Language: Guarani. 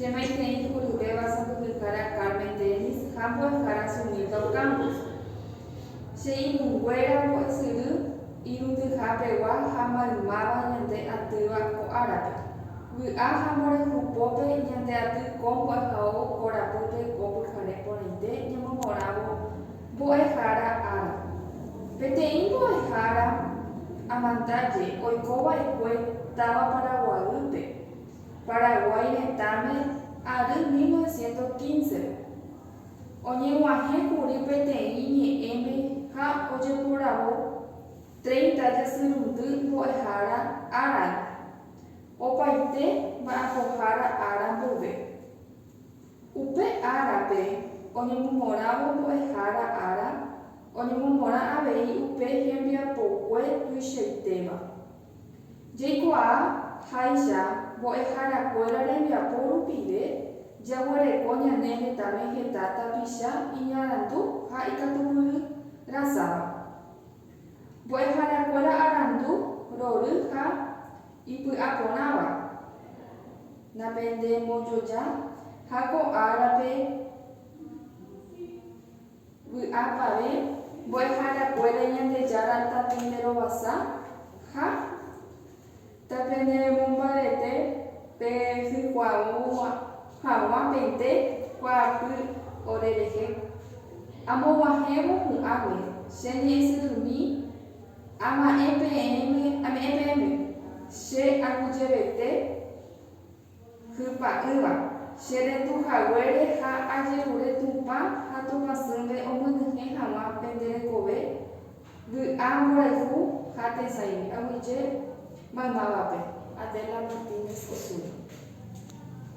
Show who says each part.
Speaker 1: Che maitei juruvéva sapyhyhára Carmen Dennis ha mbo'ehára Sunilda Ocampo. Che irũnguéra mbo'esyry irundyha pegua ha maymáva ñande atýva ko árape. Vy'a ha mborayhu pópe ñande aty ko mbo'ehao korapýpe ko pyhare porãite ñemomorãvo mbo'ehára ára. Peteĩ mbo'ehára amandaje oiko va'ekue táva Paraguaýpe. Paraguái retãme ary 1915-re. Oñeg̃uahẽ kuri peteĩ ñe'ẽme ha ojeporavo treinta jasyrundy mbo'ehára árape, opaite mba'apohára ára mboyve. Upe árape oñemomorãvo mbo'ehára ára oñemomorã avei upe hembiapokue tuichaitéva. Jaikuaa háicha mbo'ehára kuéra rembiapo rupive jaguereko ñane hetave heta tapicha iñarandu ha ikatupyry rasáva. Mbo'ehára kuéra arandu rory ha ipy'aporãva napende mbojoja ha ko árape. Vy'apavẽ, mbo'eharakuéra Ñandejára tapenderovasa ha tapenderemombarete pe hykuaa'u hag̃uapente kuaapy ore rehe. Amog̃uahẽvo hu'ãme, che ñe'ẽsyrymi, ama'ẽ peẽme, ame'ẽ peẽme, che aguyjevete. Hypa'ỹva, che retu haguére ha ajerure Tupã ha Tupãsýnte omyenyhẽ haguã pende rekove vy'a mborayhu ha tesãigui. Aguyje maymávape. Adela Martínez Osuna.